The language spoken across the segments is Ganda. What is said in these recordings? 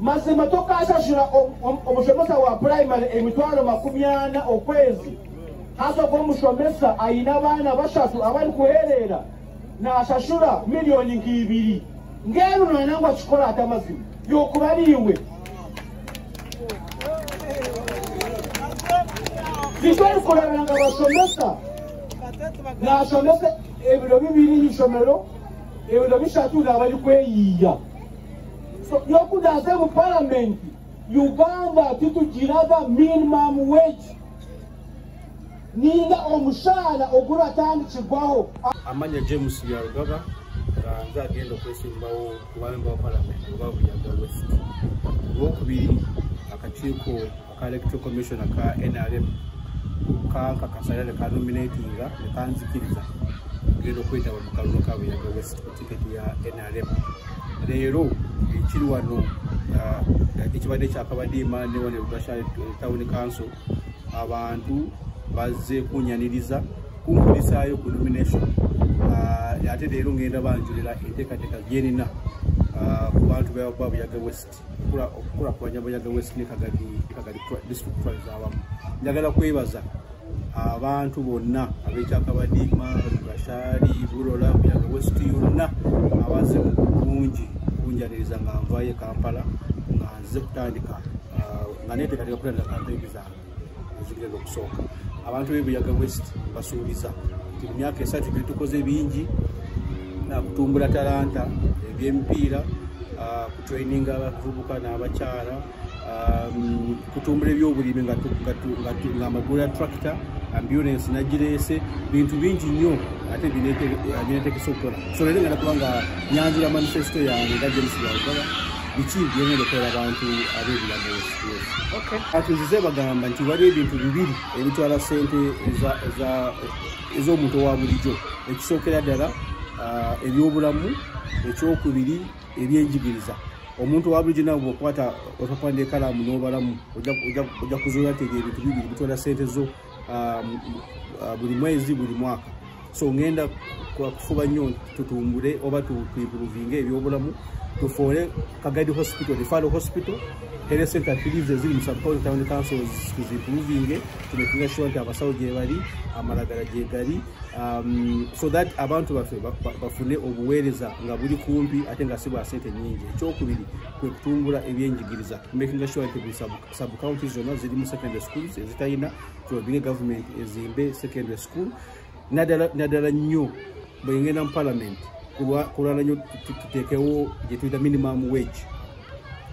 mazima tokasasula omusomesa wa primary emitwalo makumi ana okwezi hasoka omusomesa ayina abaana basatu abali kuherera nasasula miliyoni nkiibiri ngeno nanangu akikola ate amazima yokubaliiwe zitwali kulabanga basomesa nasomesa ebiro bibiri isomero ebiro bisatu nabali kweyiiya So, yokuda ate mu parliament uganda titugiraga minimum wage ninga omusaala ogulwa tandikigwawo amanya james yarugaba nga nze agenda okwesimbawo kubamemba wa palamenti oba buyaga west olwokubiri akakiiko ka electoral commissioner ka nrm kankakasa era nekanominatinga nekanzikiriza genda okwetaba mu kalulu ka buyaga west ku tiketi ya nrm leero ekiri wano uh, ekibadde kyakabadiima newane lugasa eh, town council abantu bazze kunyaniriza kunkulisaayo ku nomination uh, ate leero ngenda banjulira enteekateeka gyenina uh, ku bantu babuyaga west okukulakulanya buyaga wesine kagadi kagadi district twaliza awamu njagala kwebaza abantu bonna abekyakabadiima gashari bulola buyaga west yonna abaze bungi kunjaniriza nga nvayo e kampala nga nze kutandika uh, nga netekateka kutandika kampeyini zange ezigenda okusooka abantu bebuyaga west basuubiza nti mu myaka esatu gyetukoze bingi nakutumbula talanta ebyemipiira ah, kutraininga abavubuka n'abakyala Um, kutumbula ebyobulimi ngaamagulu ya tractor ambulance nagireese bintu bingi nnyo ate binetekesa okukola so lere nga nakuba nga nyanjula manifesto yange nga james bwagala biki byongera okola abantu ab'ebilago atuzize bagamba nti wali ebintu bibiri ebitwala sente ez'omuntu owa bulijjo ekisookera ddala ah, ebyobulamu ekyokubiri ebyenjigiriza omuntu owa bulijjo nawe bwokwata otapanda ekalamu n'obalamu ojja kuzuula tega ebintu bibiri bitwala sente zo um, uh, buli mwezi buli mwaka so ngenda kufuba nnyo tutumbule oba tuimpruvinge ebyobulamu tufuule kagadi hospital refalo hospital health center tilives eziri mu subcounty town councils tuzimpruvinge tunekinga sure nti abasawo gyebali amalagala gyegali um, so that abantu baffe bafune obuweereza nga buli kumpi ate nga si bwa sente nyingi ekyokubiri kwe kutumbula ebyenjigiriza makinga sure nti busabuka sub county zonna ziri mu secondary schools ezitalina kyobire government ezimbe secondary school naddala nnyo bwengenda mu parliament kulwala nnyo tuteekewo gyetuyita minimum wage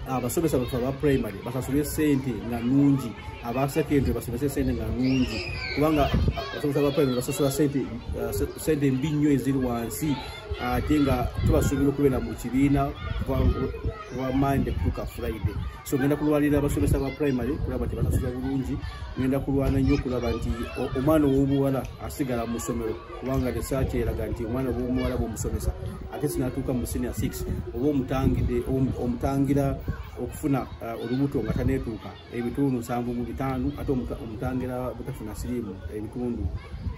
abasomesa baffe aba primary basasule sente nga nungi aba secondary basomese sente nga nungi kubanga abasomesa ba primary basasula sente uh, mbi nnyo eziri wansi ate nga tubasuubira okubeera mu kibiina wa mande kutuka friday so ngenda kulwanira abasomesa ba primary kulaba nti banasula bulungi ngenda kulwana nnyo okulaba nti omwana ow'obuwala asigala mu ssomero kubanga research eraga nti omwana ow'omuwala bwomusomesa ate sinatuuka mu senior six oba omutangira okufuna uh, olubuto nga tanetuuka ebitundu nsanvu mu bitaano ate omutangira butafuna siriimu ebitundu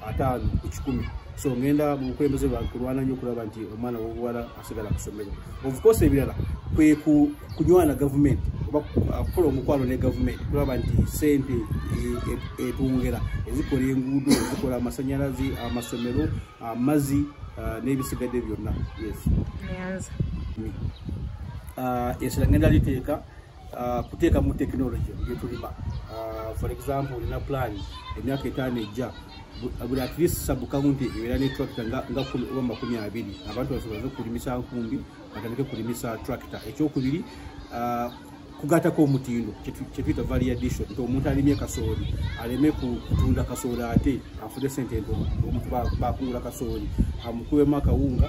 ataano ku kikumi so ngenda mu bukulembeze bwange kulwana nnyo okulaba nti omwana w'obuwala sigala kusomero obukosa ebirala kwe kunywana gavumenti oba kukola omukwano ne gavumenti kulaba nti sente etwongera e, e, ezikola enguudo ezikola amasanyalaze amasomero amazi n'ebisigadde byonna yes esira ngenda liteeka uh, kuteeka mu tekinologi byetulima uh, for example olina plan emyaka etaano ejja buli at least sabukawunti ebeera ne tracta nga oba makumi abiri abantu basobolaze okulimisa nkumbi batandike kulimisa tracta ekyokubiri uh, kugatako omutindo kyetuyita variadation nti omuntu alimye kasooli aleme kutunda kasooli ate afune sente nti omuntu bakungula kasooli amukubemu akawunga